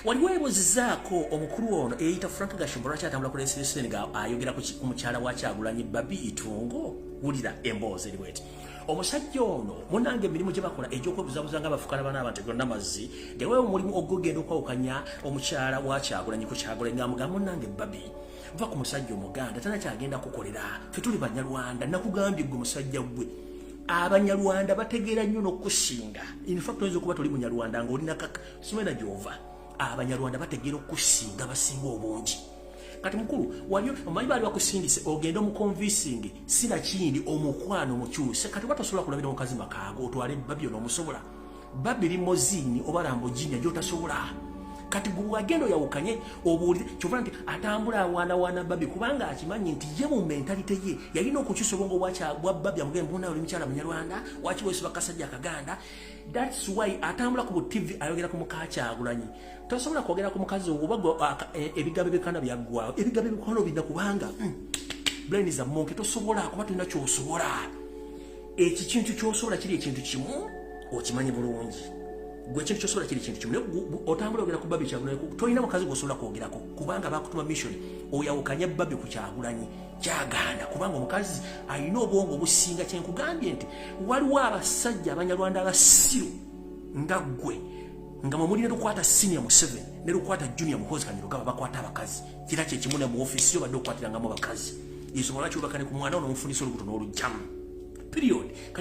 waliwo ebuzizaako omukulu ono eyita frank gashumba lwaki atambula ku lensiresen nga ayogera ku mukyala wa kyagulanyi babi itungo wulira emboozi eri bweti omusajja ono munange emirimu gye bakola egyokwebuzabuza nga bafukala bana abantu gonna mazzi dewewo omulimu ogugenda okwawukanya omukyala wa kyagulanyi ku kyagulanyi nga mugambo nange babi va ku musajja omuganda tana kyagenda kukolera fe tuli banyarwanda nakugambye gwe musajja gwe abanyarwanda bategeera nnyo nokusinga infact oyinza okuba toli munyarwanda nga olina kaka siwena gyova abanyarwanda bategeera okusinga basinga obungi kati mukulu wali omanyi baali bakusindise ogende omukonvisingi sinakindi omukwano mukyuse kati watasobola kulabira mukazi makaago otwale babyo nomusobola babi limozini oba lamboginya gyotasobola kati gwewagenda oyawukanye obuulire kyova nti atambula awaanawaana babi kubanga akimanyi nti ye mu mentalite ye yalina okukyusa obwongo bwa babi amuge mbuna oli mukyala munyarwanda waki wesiba kasajja akaganda thats why atambula ku butivi ayogera ku mukakyagulanyi tosobola kwogera ku mukazi oba e, ebigambo ebikana byaggwawo ebigambo ebikwano bina kubanga hmm, brain is a monke tosobola kuba tulina kyosobola eki kintu kyosobola kiri ekintu kimu okimanyi bulungi gwe kintu kyosobola kiri ekintu kimu otambula ogera ku babi kyagulanyi tolina mukazi gwosobola kwogerako kubanga bakutuma mission oyawukanya babi ku kyagulanyi kyagaana kubanga omukazi alina obwongo obusinga kyenkugambye nti waliwo abasajja abanyarwanda abasiru nga ggwe nga mwemulina lukwata senior museven ne lukwata junior muhozi kanyirugaba bakwata abakazi kira kye kimu ne mu office yo badde okukwatiranga mu bakazi yesu mwala kyubakane ku mwana ono mufunisa olubuto n'olujjamu period